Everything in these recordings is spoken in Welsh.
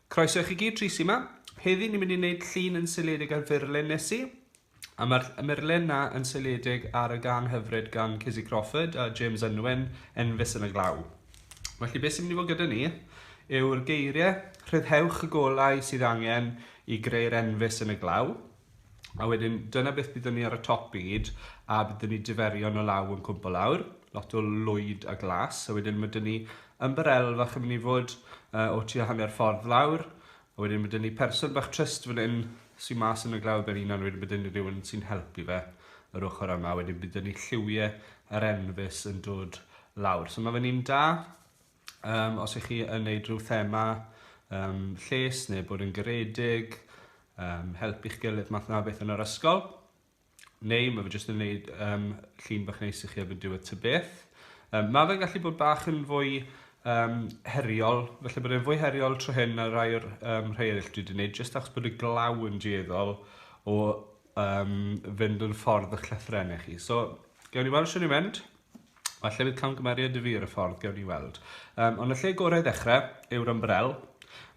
Croeso i chi gyd, Trisi yma. Heddi ni'n mynd i wneud llun yn seiliedig ar furlen Nessie, a mae'r murlen na yn seiliedig ar y gan hyfryd gan Cizzy Crawford a James Unwin, Enfys yn y Glaw. Felly beth sy'n mynd i fod gyda ni yw'r geiriau rhyddhewch y golau sydd angen i greu'r enfys yn y glaw, A wedyn, dyna beth byddwn ni ar y top byd, a byddwn ni diferion o law yn cwmpo lawr, lot o lwyd a glas, a wedyn mae dyn ni ymbarel fach yn mynd i fod uh, o tua hanner ffordd lawr, a wedyn mae dyn ni person bach trist fan hyn sy'n mas yn y glaw ben hunan, wedyn byddwn ni rhywun sy'n helpu fe yr ochr yma, wedyn byddwn ni lliwiau yr enfys yn dod lawr. So mae fe'n un da, Um, os ych chi yn neud rhyw thema um, lles neu bod yn garedig, um, helpu chi gilydd math na beth yn yr ysgol, neu mae fe jyst yn neud um, llun bach neis i chi efo'n diwedd ty beth. Um, mae fe'n gallu bod bach yn fwy um, heriol, felly bod e'n fwy heriol tro hyn na rai o'r um, rhai eraill dwi wedi gwneud, jyst achos bod y glaw yn dieddol o um, fynd yn ffordd o'ch llythrenau chi. So, gawn ni weld sy'n ei mynd. Falle bydd camgymeriad i fi ar y ffordd, gewn ni weld. Um, ond y lle gorau ddechrau yw'r ymbrel,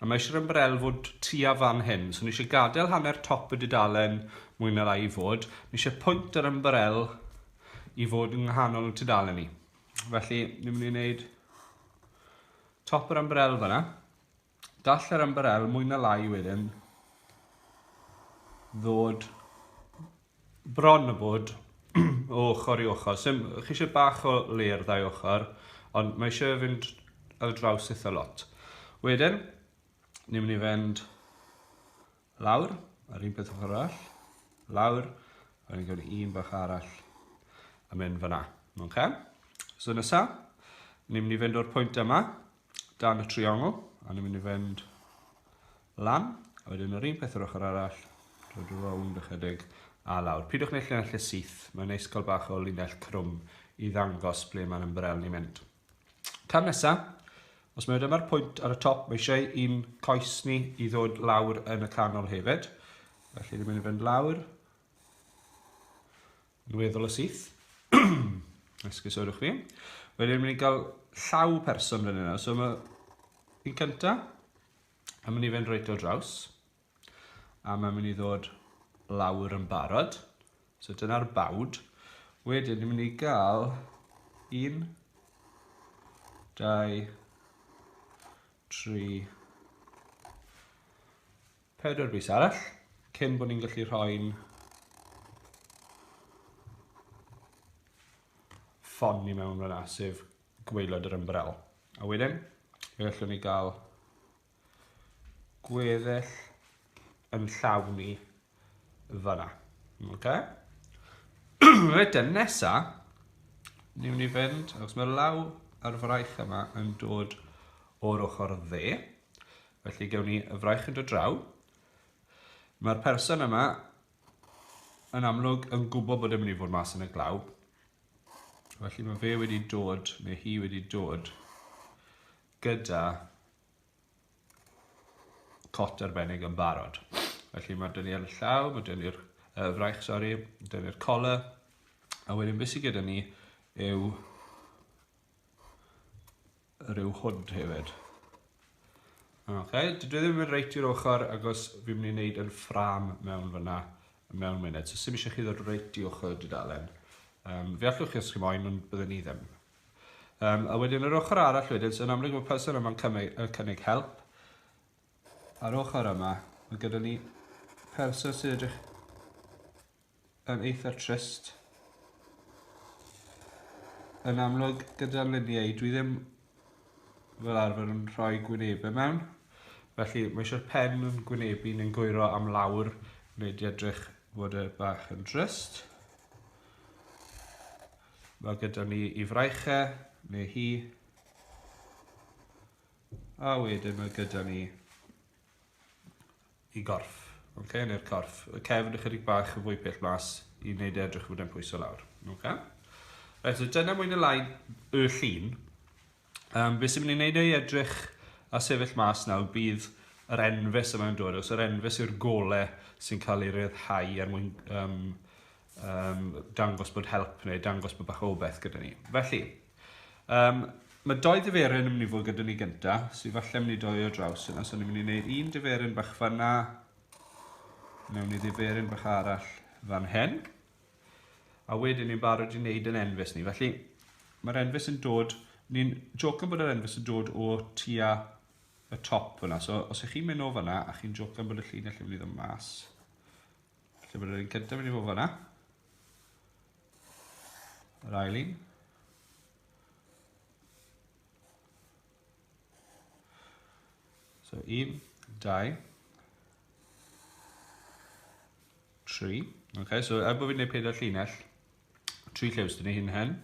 a mae eisiau'r ymbrel fod tua fan hyn. So ni eisiau gadael hanner top y dudalen mwy na rai i fod. Ni eisiau pwynt yr ymbrel i fod yng nghanol y tudalen ni. Felly, ni'n mynd i wneud top yr ymbrel fyna. Gall yr ymbarel mwy na lai wedyn ddod bron o bod o ochr i ochr. So, chi eisiau bach o le ar ddau ochr, ond mae eisiau fynd ar draws eitha lot. Wedyn, ni'n mynd i fynd lawr, ar un peth ochr arall, lawr, a ni'n gwneud un bach arall, a mynd fyna. Okay? So nesa, ni'n mynd i fynd o'r pwynt yma, dan y triongl, a ni'n mynd i fynd lan, a wedyn yr un peth yr ochr arall, dod rownd ychydig a lawr. Pidwch wneud llinell y syth, mae'n neis cael bach o linell crwm i ddangos ble mae'n ymbrel ni'n mynd. Cam nesaf, os mae dyma'r pwynt ar y top, mae eisiau un coes ni i ddod lawr yn y canol hefyd. Felly ni'n mynd i fynd lawr, Weddol y syth. Esgusodwch fi. Wedyn mynd i gael llaw person fan yna. So mae un cynta. A mynd i fynd reit o draws. A mae'n mynd i ddod lawr yn barod. So dyna'r bawd. Wedyn ni'n mynd i gael un, dau, tri, Pedwar bys arall, cyn bod ni'n gallu rhoi'n ffon ni mewn fyna, sef gweilod yr ymbrel. A wedyn, fe allwn ni gael gweddill yn llawn ni fyna. Okay? Reit e, nesa, ni wni fynd, achos mae'r law ar fraich yma yn dod o'r ochr dde. Felly gewn ni y fraich yn dod draw. Mae'r person yma yn amlwg yn gwybod bod e'n mynd i fod mas yn y glaw. Felly mae fe wedi dod, neu hi wedi dod, gyda cot arbennig yn barod. Felly mae dyn ni'r llaw, mae dyn ni'r uh, fraich, sori, dyn ni'r cola, a wedyn beth sydd gyda ni yw rhyw hwd hefyd. Ok, dwi ddim yn mynd reit i'r ochr agos fi'n mynd i wneud yn ffram mewn fyna mewn munud. So sy'n eisiau chi ddod reit i ochr y dudalen. Um, fe allwch chi os chi moyn, ond byddwn ni ddim. Um, a wedyn yr ochr arall wedyn, so yn amlwg mae person yma'n cynnig, cynnig help. A'r ochr yma, mae gyda ni person sy'n edrych yn eitha trist. Yn amlwg gyda'r luniau, dwi ddim fel arfer yn rhoi gwynebau mewn. Felly mae eisiau'r pen yn gwynebu neu'n gwyro am lawr wneud i edrych fod y bach yn drist. Mae gyda ni i fraichau neu hi. A wedyn mae gyda ni i gorff, ok, neu'r corff. Y cefn ychydig bach yn fwy pell mas i wneud e edrych fod e'n pwyso lawr. Okay? Right, so dyna mwyn y lai y llun. Um, be sy'n mynd i wneud ei edrych a sefyll mas nawr bydd yr enfys yma'n dod, os yr enfys yw'r gole sy'n cael ei ryddhau er mwyn um, um, dangos bod help neu dangos bod bach o beth gyda ni. Felly, um, mae doi diferyn yn mynd i fod gyda ni gynta, sy'n falle mynd i doi o draws yna, so ni'n mynd i wneud un diferyn bach fanna, mewn i diferyn bach arall fan hyn, a wedyn ni'n barod i wneud yn enfus ni. Felly, mae'r enfus yn dod, ni'n jocan bod yr enfus yn dod o tua y top yna, so os ych chi'n mynd o fanna a chi'n jocan bod y llinell yn mynd i ddod mas, Lle bod yr un cyntaf wedi bod fanna. Yr ail un. So un, dau, tri. Okay, so er bod fi'n gwneud pedair llinell, tri llew sydd ni hyn hen.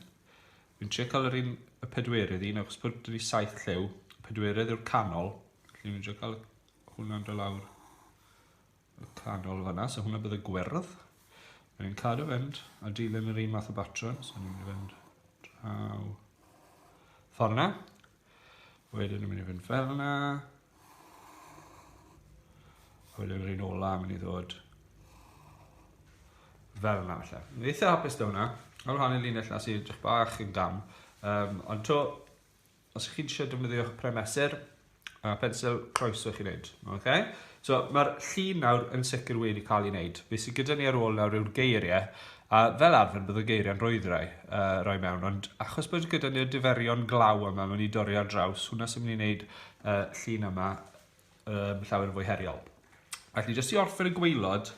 Fi'n trio cael yr un y pedwerydd un, achos bod ni saith llew, pedwerydd yw'r canol. Felly fi'n trio cael hwnna'n dod lawr y canol fanna, so hwnna bydd y gwyrdd. Rwy'n ni'n cadw fynd a dilyn yr un math o batrwm, so ni'n mynd i fynd draw ffordd yna. Wedyn ni'n mynd i fynd fel yna. Wedyn yr un ola mynd i ddod fel yna felly. Ni'n eitha hapus da hwnna. Ar wahanol linell na sy'n edrych bach yn gam. Um, ond to, os ych chi'n eisiau defnyddio'ch pen mesur a phensil, croeso i chi wneud. Okay? So, mae'r llun nawr yn sicr wedi cael ei wneud. Be sydd gyda ni ar ôl nawr yw'r geiriau, a fel arfer bydd y geiriau'n rhwyddrai uh, roi mewn, ond achos bod gyda ni'r diferion glaw yma, mae'n ni dorri ar draws, hwnna sy'n mynd i wneud uh, llun yma um, llawer yn fwy heriol. Felly, jyst i orffen y gweilod,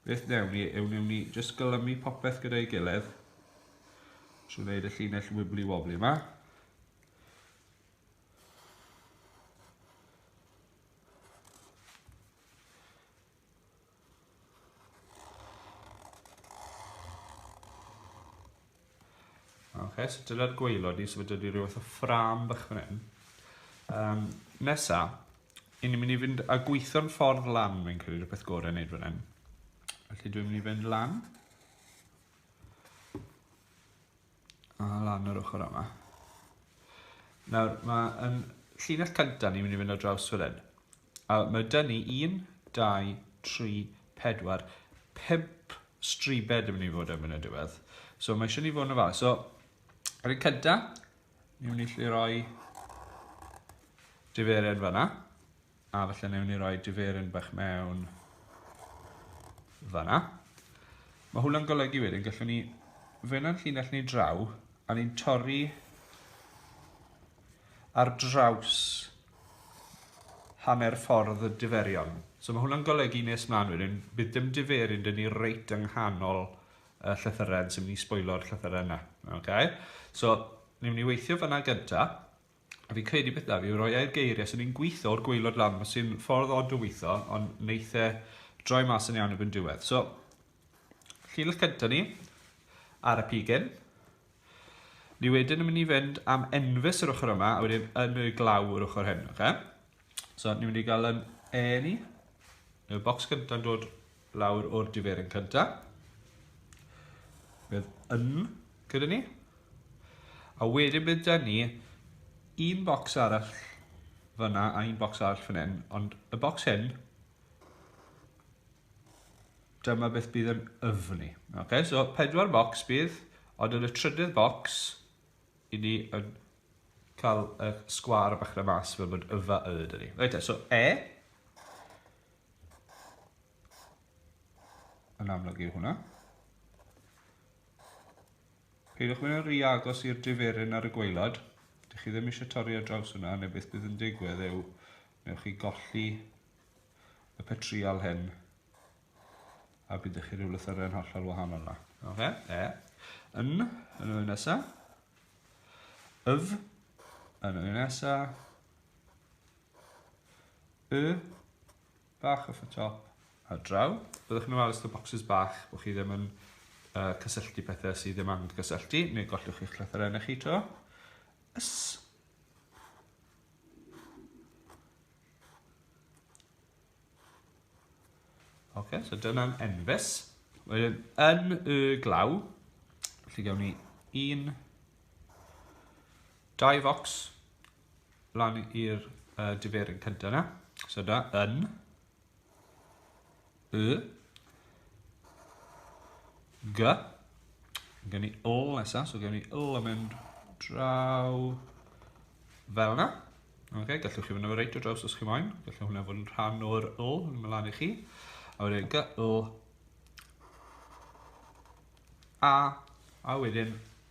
Beth newn ni yw newn ni just gylymu popeth gyda'i gilydd. Trwy wneud y llinell wibbly wobbly yma. Ok, so dyna'r gweilod ni, so fe dydy rhywbeth o ffram bach fan hyn. Um, nesa, i ni'n mynd i fynd a gweithio'n ffordd lan, fi'n credu rhywbeth gorau wneud fan hyn. Felly dwi'n mynd i fynd lan. A lan yr ochr yma. Nawr, mae yn llinell cyntaf ni'n mynd i fynd o draws fan hyn. A mae dŷ ni un, dau, tri, pedwar, pump stribed yn mynd i fod yn mynd y diwedd. So mae eisiau ni fod yn ofalus. So, yr un cynta, ni wni lle roi diferyn fanna. A felly ni wni roi diferyn bach mewn fanna. Mae hwnna'n golygu wedyn, gallwn ni fynd â'n llinell ni draw, a ni'n torri ar draws hanner ffordd y diferion. So mae hwnna'n golygu nes mlaen wedyn, bydd dim diferyn dyn ni reit yng nghanol y llythyren sy'n mynd i sbwylo'r llythyren yna. Okay? So, ni'n mynd i weithio fyna gynta. A fi'n credu beth da, fi roi e'r geiriau sy'n ni'n gweithio o'r gweilod lan, mae sy'n ffordd od o weithio, ond neithe droi mas yn iawn y byn diwedd. So, llinell cynta ni, ar y pigyn, Ni wedyn yn mynd i fynd am enfys yr ochr yma, a wedyn yn y glaw yr ochr hyn, oce? So, ni'n mynd i gael yn E ni. Y bocs gyntaf yn dod lawr o'r diferyn cyntaf. Bydd yn gyda ni. A wedyn bydd dyn ni un bocs arall fyna a un bocs arall fan hyn, ond y bocs hyn Dyma beth bydd yn yfni. Ok, so pedwar bocs bydd, ond yn y trydydd bocs, i ni yn cael y sgwar bach na mas fel bod yfa y dyn ni. Reit, so e. Yn amlwg yw hwnna. Peidiwch mynd yn rhy agos i'r diferyn ar y gwaelod. Dych chi ddim eisiau torri ar draws hwnna, neu beth bydd yn digwydd yw, newch chi golli y petriol hyn, a bydd chi rhyw lythyren hollol wahanol yna. Oce, e. Yn, yn y nesa. Yf, yn y nesa. Y, Bach off y top ar draw. Byddwch chi'n ofalus o bocsys bach bod chi ddim yn uh, cysylltu pethau sydd ddim angen cysylltu, neu gollwch chi'ch llythyrau na chi to. Ys. Oce, okay, so dyna'n enfys. Wedyn, yn y glaw, lle gawn ni un, dau focs, lan i'r uh, diferyn cyntaf yna. So da, yn, y, g, gen i l nesaf, so gen i l yn mynd draw fel yna. Okay, gallwch chi fynd o'r reit o draws os chi moyn, gallwch hwnna fod yn rhan o'r l yn mynd lan i chi. A wedyn g, l, a, a wedyn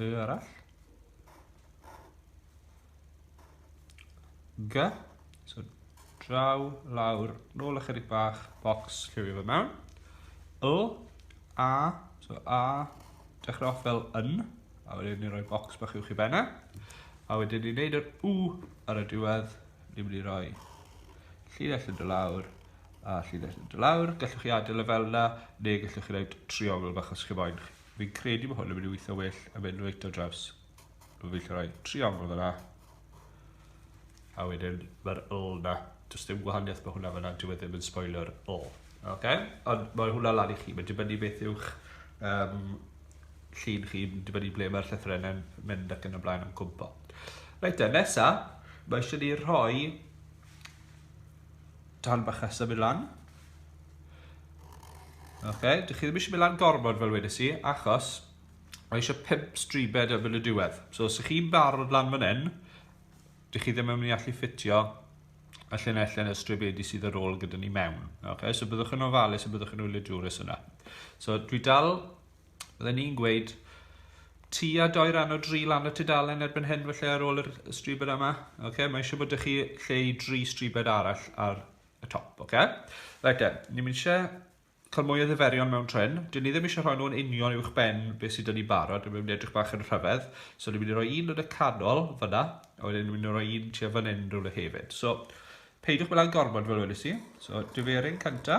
Y arall. G. So draw, lawr, nôl ychydig bach, box, lliwio fe mewn. Y. A. So A. Dechrau off fel yn. A wedyn ni'n rhoi box bach i'w chi benna. A wedyn ni'n neud yr U ar y diwedd. Ni'n mynd i roi llinell yn dy lawr a llinell yn dy lawr. Gallwch chi adael y e fel yna, neu gallwch chi wneud triongl bach os chi moyn chi. Fi'n credu bod hwn yn mynd i weithio well yn mynd reit o draws. Fi'n gallu rhoi tri angl fyna. A wedyn mae'r ul na. Does dim gwahaniaeth bod hwnna fyna, dyw e ddim yn spoiler ul. Okay? Ond mae hwnna lan i chi, mae'n dibynnu beth yw'ch um, llun chi, mae'n dibynnu ble mae'r llythrenau'n mynd ac yn y blaen am cwmpo. Reit te, nesa, mae eisiau ni rhoi Darn bach nesaf mynd lan. Ok, dych chi ddim eisiau mynd lan gormod fel wedys i, achos mae eisiau pimp stribed yn mynd y diwedd. So, os ych chi'n barod lan fan hyn, dych chi ddim yn mynd i allu ffitio y llinell yn y stribedi sydd ar ôl gyda ni mewn. Ok, so byddwch yn ofalus a byddwch yn wylio jwrus yna. So, dwi dal Fydden ni'n gweud tua doi ran o dri lan y tudalen erbyn hyn felly ar ôl yr stribed yma. Ok, mae eisiau bod ych chi lle i dri stribed arall ar y top, ok? Right then, ni'n mynd eisiau cael mwy o ddiferion mewn tren. Dyn ni ddim eisiau rhoi nhw'n union uwch ben beth sydd dyn ni barod, ni'n mynd edrych bach yn rhyfedd. So ni'n mynd i roi un yn y canol fyna, a wedyn ni'n mynd i roi un tua fan hyn rhywle hefyd. So, peidiwch mynd lan gormod fel wedi si. So, diferyn cynta.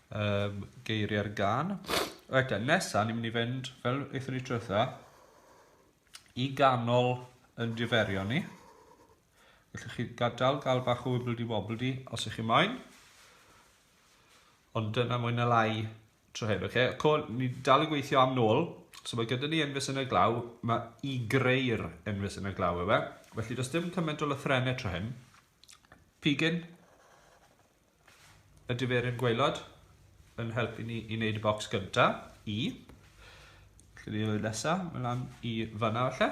um, geiriau'r gan. Reit, nesa, ni'n mynd i fynd, fel eithon ni trwytha, i ganol yn diferio ni. Felly chi gadael gael bach o wibbledy wobbledy os ych chi moyn. Ond dyna mwy na lai tro hyn, oce? Okay? Co, ni dal i gweithio am nôl. So mae gyda ni enfys yn y glaw, mae i greu'r enfys yn y glaw efe. Felly does dim cymaint o lythrenau tro hyn. Pigyn, y diferyn gwaelod yn helpu ni i wneud y bocs gyntaf, i. Felly ni oed nesaf, mae lan i fanna falle.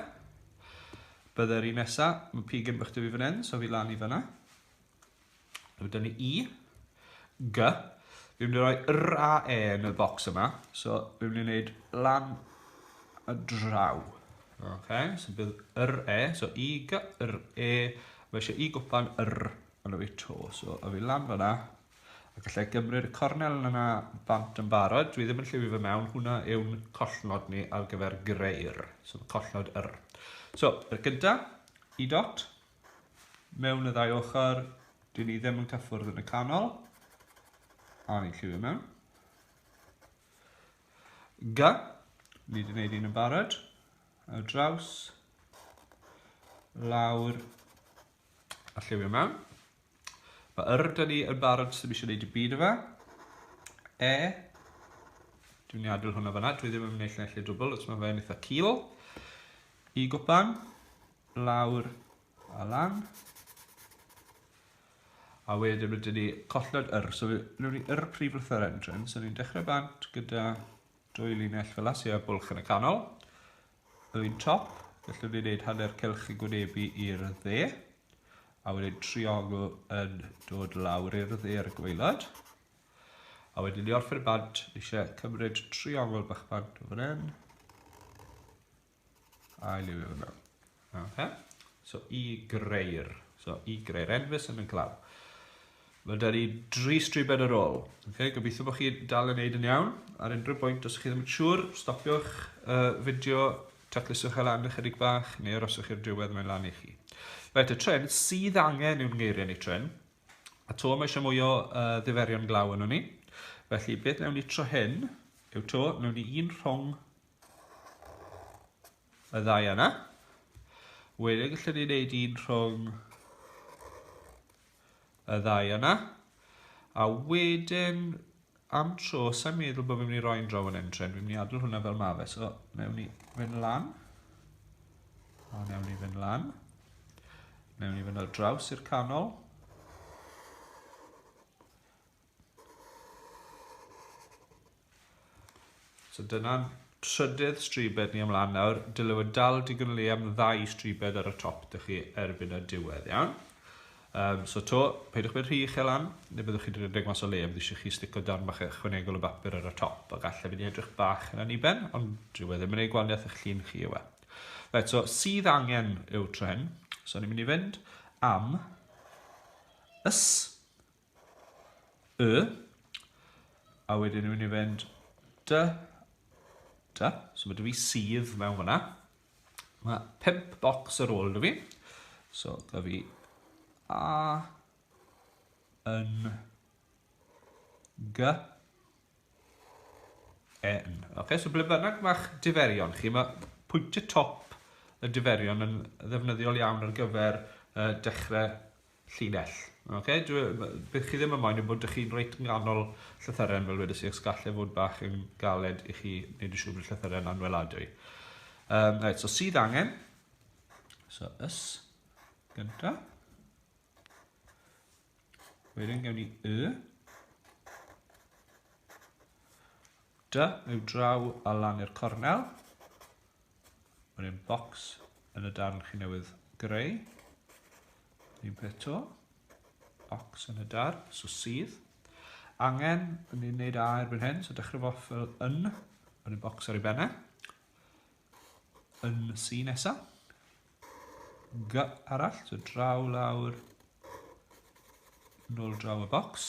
Byddai'r un nesaf, mae pig yn bych dwi fan hyn, so fi lan i fanna. Mae dyn ni i, g. Fi'n mynd i roi r a e yn y bocs yma, so fi'n mynd i wneud lan y draw. Okay, so bydd r e, so i, g, r, e, mae eisiau i gwpan r Ond fi to, so a fi lan fanna. A gallai gymryd y cornel yna bant yn barod. Dwi ddim yn llifio fe mewn. Hwna yw'n collnod ni ar gyfer greu'r. So mae collnod yr. So, yr gynta, i dot. Mewn y ddau ochr, dyn ni ddim yn cyffwrdd yn y canol. A ni'n llifio mewn. G. Ni wedi gwneud un yn barod. Ar draws. Lawr. A lliwio mewn. Mae yr da ni yn barod, ddim eisiau gwneud y byd yma. E. Dwi'n ni adael hwnna fyna, dwi ddim yn mynd eich lle dwbl, os mae fe'n eitha cil. I gwpan, lawr a lan. A wedyn mae dyn ni colled yr, so nhw'n ni yr prif lythyr entrance, so ni'n dechrau bant gyda dwy linell fel as, a bwlch yn y canol. Yn top, gallwn ni wneud hanner cylch yn gwynebu i'r dde, a wedyn triongl yn dod lawr i'r dde ar y gwaelod. A wedyn ni orffen y bant, ni eisiau cymryd triongl bach bant o fan hyn, a i liwio fe mewn. Okay. So i greu'r, so i greu'r enfys yn y glaw. Mae 'da ni dri stribed ar ôl. Ok, gobeithio bod chi'n dal yn neud yn iawn. Ar unrhyw bwynt, os ych chi ddim yn siŵr, stopiwch y fideo, tacluswch e lan ychydig bach, neu aroswch i'r diwedd, mae'n lan i chi. Reit, y tren sydd angen yw'n ngeiriau ni tren. A to, mae eisiau mwy o uh, ddiferion glaw yn ni. Felly, beth newn ni tro hyn yw to, newn ni un rhwng y ddau yna. Wedyn, gallwn ni wneud un rhwng y ddau yna. A wedyn, am tro, sa'n meddwl bod fi'n mynd i roi'n draw yn entren. Fi'n mynd i adl hwnna fel mafe. So, newn ni fynd lan. A newn ni fynd lan. Newn ni fynd ar draws i'r canol. So dyna'n trydydd stribed ni ymlaen nawr. Dyle fod dal digon le am ddau stribed ar y top dych chi erbyn y diwedd, iawn? Um, so to, peidiwch bod rhy uchel lan, neu byddwch chi'n rhedeg mas o le, bydd eisiau chi stico darn bach ychwanegol o bapur ar y top, a gallai fynd i edrych bach yn aniben, ond dyw e ddim yn ei gwaniaeth eich llun chi yw e. Right, so sydd angen yw tro hyn, so ni'n mynd i fynd am ys, Y. A wedyn ni'n mynd i fynd dy, dy. So mae dy fi sydd mewn fyna. Mae pimp bocs ar ôl dy fi. So dy fi a yn gy Yn. Ok, so ble bynnag mae'ch diferion chi, mae pwyntiau top y diferion yn ddefnyddiol iawn ar gyfer uh, dechrau llinell. Ok, dwi, bydd chi ddim yn moyn yn bod ydych chi'n reit nghanol llythyren fel wedi sy'n sgallai fod bach yn galed i chi wneud y siŵr bod llythyren anweladwy. Um, right, so sydd angen, so ys, gyntaf. Wedyn gewn ni y. Dy yw draw a lan i'r cornel. Wedyn box yn y darn chi newydd greu. Un peth to. Box yn y darn, so sydd. Angen, yn ni'n neud a erbyn hyn, so dechrau fo fel yn, wedyn box ar ei benne yn C nesaf. G arall, so draw lawr, nôl draw y bocs.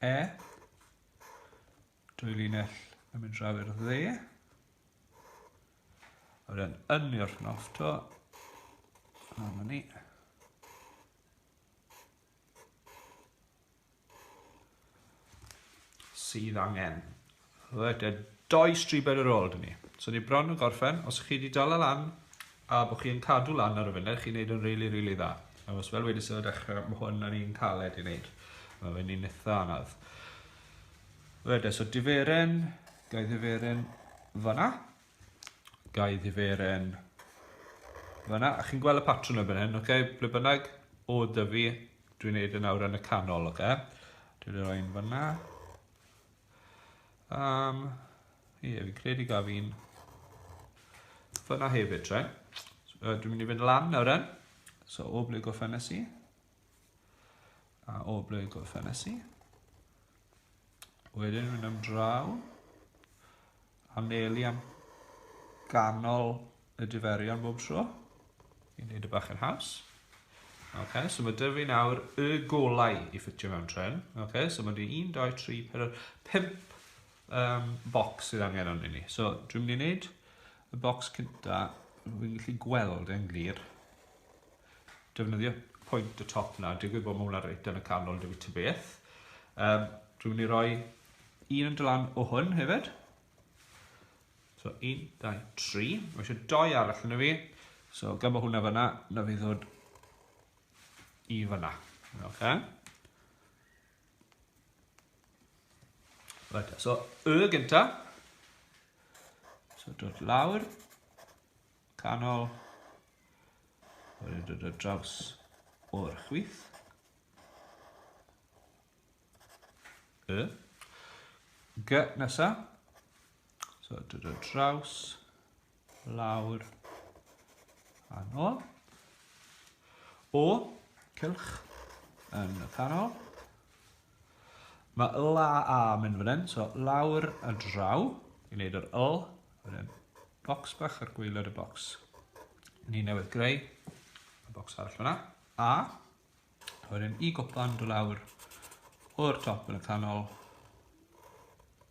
E, dwy linell yn mynd draw i'r dde. A wedyn yn i'r nofto, a ni. sydd angen. Reit, a doi stribed ar ôl dyn ni. So ni bron yn gorffen, os chi wedi dala lan, a bod chi yn cadw lan ar y funud, chi'n neud yn really, really dda. A os fel wedi sy'n y dechrau, mae hwn yn un caled i wneud. Mae fe'n un eitha anodd. Reit, so diferen, gael diferen fanna. Gai ddiferen. Fyna, a chi'n gweld y patrwn o fan hyn, oce? Okay? Ble bynnag o dyfu, dwi'n neud yn awr yn y canol, oce? Okay? Dwi'n ei roi'n fyna. Um, ie, fi'n credu gaf fi'n fyna hefyd, tre. So, dwi'n mynd i fynd lan nawr yn. So, o ble gorffennes i? A o ble gorffennes i? Wedyn mynd am draw. anelu am ganol y diferion bob tro i wneud y bach yn haws. Ok, so mae dyfu nawr y golau i ffitio mewn tren. Ok, so mae di 1, 2, 3, 4, 5 um, box sydd angen o'n ni. So dwi'n mynd i wneud y box cynta, fi'n gallu gweld e'n glir. defnyddio pwynt y top na, digwydd bod mae hwnna reit yn y canol dwi ta beth. Um, dwi'n mynd i roi un yn dylan o hwn hefyd. So 1, 2, 3. Mae eisiau doi arall yn y fi. So gyda hwnna fyna, na fi ddod i fyna. Okay. Right, so y gynta. So dod lawr. canol. Wedyn dod ar draws o'r chwith. Y. G nesa. So dod ar draws, lawr, a nôl. O, cylch yn y canol. Mae y la a yn mynd fan hyn, so lawr a draw i wneud yr yl. Wedyn bocs bach ar gwaelod y bocs. Ni newydd greu y bocs arall fyna. A, wedyn i gwpan do lawr o'r top yn y canol.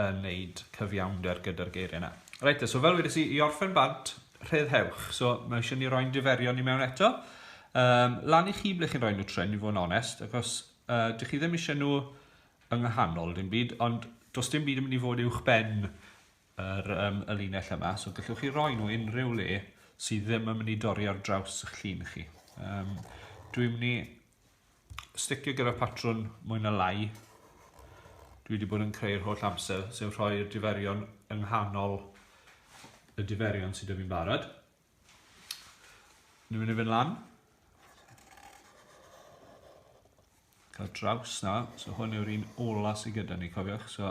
yn wneud cyfiawnder gyda'r geiriau 'na. Reit te, so fel wedes i, i orffen bant, rhyddhewch. So mae eisiau ni roi'n diferion ni mewn eto. Um, lan i chi ble chi'n rhoi nhw tren, i fod yn onest, achos uh, dych chi ddim eisiau nhw yng nghanol dim byd, ond does dim byd yn mynd i fod uwch ben yr, um, y linell yma, so gallwch chi roi nhw unrhyw le sydd ddim yn mynd i dorri ar draws eich llun chi. Um, dwi'n mynd i sticio gyda patrwn mwy na lai dwi wedi bod yn creu'r holl amser, sef rhoi'r diferion yng nghanol y diferion sydd wedi fi'n barod. Ni'n mynd i fynd lan. Cael draws na, so hwn yw'r un ola sydd gyda ni, cofiwch, so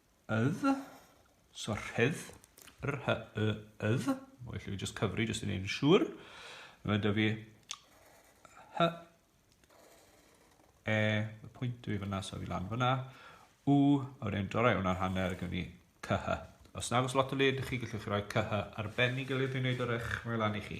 ydd, so rhydd, r hy y ydd, o felly fi jyst cyfri jyst i wneud yn siŵr. Mae da fi hy e, y pwynt dwi fyna, so fi lan fyna, u, a wedyn dorau hwnna'n hanner gyda ni cyhy. Os nag os lot o le ydych chi, gallwch chi roi cyhy arbennig y le dwi'n gwneud o'r eich mae lan i chi.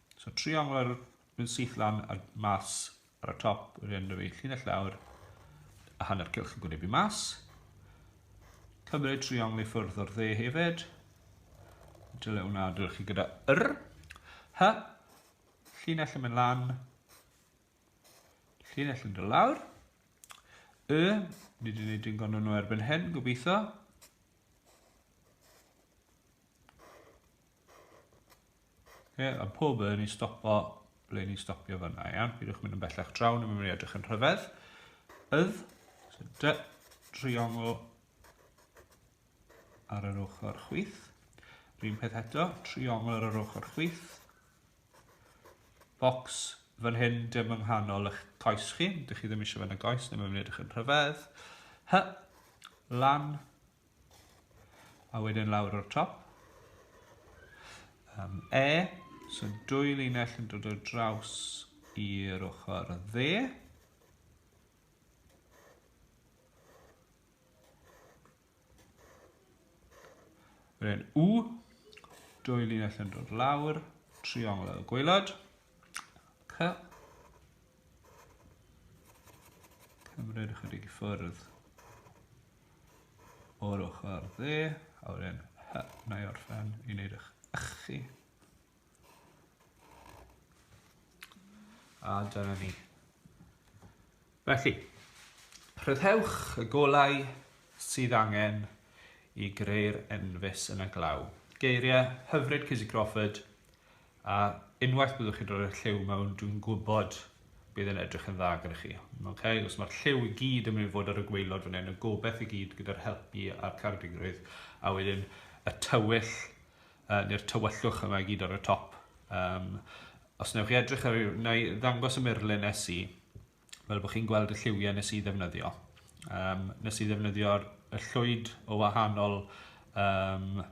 So trio o'r yn syth lan a mas ar y top, yr hyn fi llinell lawr, a hanner cylch yn gwynebu mas. Cymryd triongl i ffwrdd o'r dde hefyd. Dyle hwnna dylech chi gyda yr. Hy. Llinell yn mynd lan. Llinell yn dod lawr. Y. Ni wedi gwneud yn gwneud nhw erbyn hyn, gobeithio. Okay, a pob yn i stopo ble ni'n stopio fyna, iawn? Pidwch mynd yn bellach draw, ni'n mynd i edrych yn rhyfedd. Ydd, so dy, triongl ar yr ochr chwith. Rhyn peth eto, triongl ar yr ochr chwith. Box fan hyn, dim yng nghanol eich coes chi, dych chi ddim eisiau fan y goes, ni'n mynd i edrych yn rhyfedd. Hy, lan, A wedyn lawr o'r top. Um, e, so dwy linell yn dod o draws i'r ochr dde. Wedyn U, dwy linell yn dod lawr, triongl y gweilod. C, cymryd ychydig i ffwrdd. o'r ochr dde, a wedyn hy, na i orffen i wneud eich ych chi. A dyna ni. Felly, rhyddhewch y golau sydd angen i greu'r enfys yn y glaw. Geiriau hyfryd Cizzy Crawford, A unwaith byddwch chi'n rhoi'r lliw mewn, dwi'n gwybod bydd e'n edrych yn dda gyda chi. Okay? Os mae'r lliw i gyd yn mynd i fod ar y gweilod fan hyn, y gobeith i gyd gyda'r helpu a'r cardigrwydd, a wedyn y tywyll, uh, neu'r tywyllwch yma i gyd ar y top. Um, os newch chi edrych ar, na i ddangos y murlun nes i, fel bod chi'n gweld y lliwiau nes i ddefnyddio. Um, nes i ddefnyddio'r y llwyd o wahanol, um,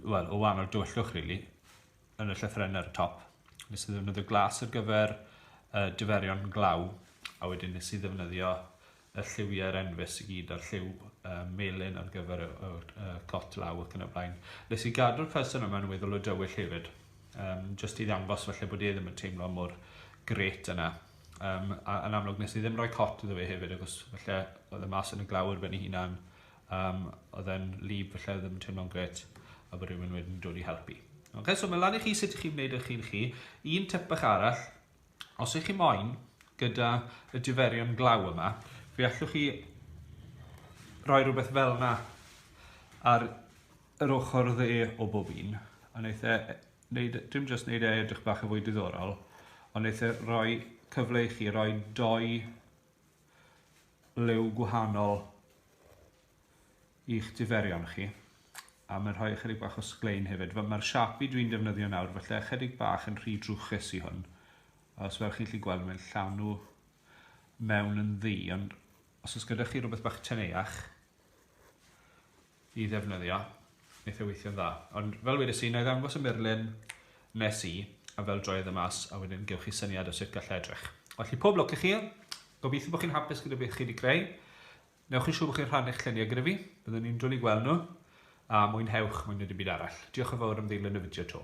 well, o wahanol dywyllwch, really, yn y llythrenau ar y top. Nes i ddefnyddio glas ar gyfer uh, diferion glaw, a wedyn nes i ddefnyddio y lliwiau'r enfys i gyd a'r lliw uh, melyn ar gyfer y, y, y cot law ac yn y blaen. Nes i gadw'r person yma yn weddol o dywyll hefyd, um, jyst i ddangos felly bod e ddim yn teimlo mor gret yna. Um, a, yn amlwg nes i ddim rhoi cot iddo fe hefyd, agos felly oedd y mas yn y glawr ben ei hunan, um, oedd e'n lib felly oedd ddim yn teimlo'n gret, a bod rhywun wedyn dod i helpu. Okay, so mae lan i chi sut i chi wneud eich chi'n chi. Un tip bach arall, Os ych chi moyn, gyda y diferion glaw yma, fe allwch chi roi rhywbeth fel yna ar yr ochr dde o bob un, a wneud e, wneud, dim jyst wneud e edrych bach yn fwy diddorol, ond wneud e roi cyfle i chi roi doi liw gwahanol i'ch diferion chi a mae'n rhoi ychydig bach o sglein hefyd. Mae'r Sharpie dwi'n defnyddio nawr, felly ychydig bach yn rhy drwchus i hwn. Os fel chi'n lli gweld, mae'n llanw mewn yn ddi, ond os oes gyda chi rhywbeth bach teneuach i ddefnyddio, wneud e weithio'n dda. Ond fel wedi si, na i ddangos y murlun nes i, a fel droed y mas, a wedyn gewch chi syniad o sut gallai edrych. Felly pob lwc i chi, gobeithio bod chi'n hapus gyda beth chi wedi greu, Wnewch yn siŵr bod chi'n rhannu'ch lluniau gyda fi, byddwn i'n dwli gweld nhw, a mwynhewch mwy na dim byd arall. Diolch yn fawr am ddeilyn y fideo 'to.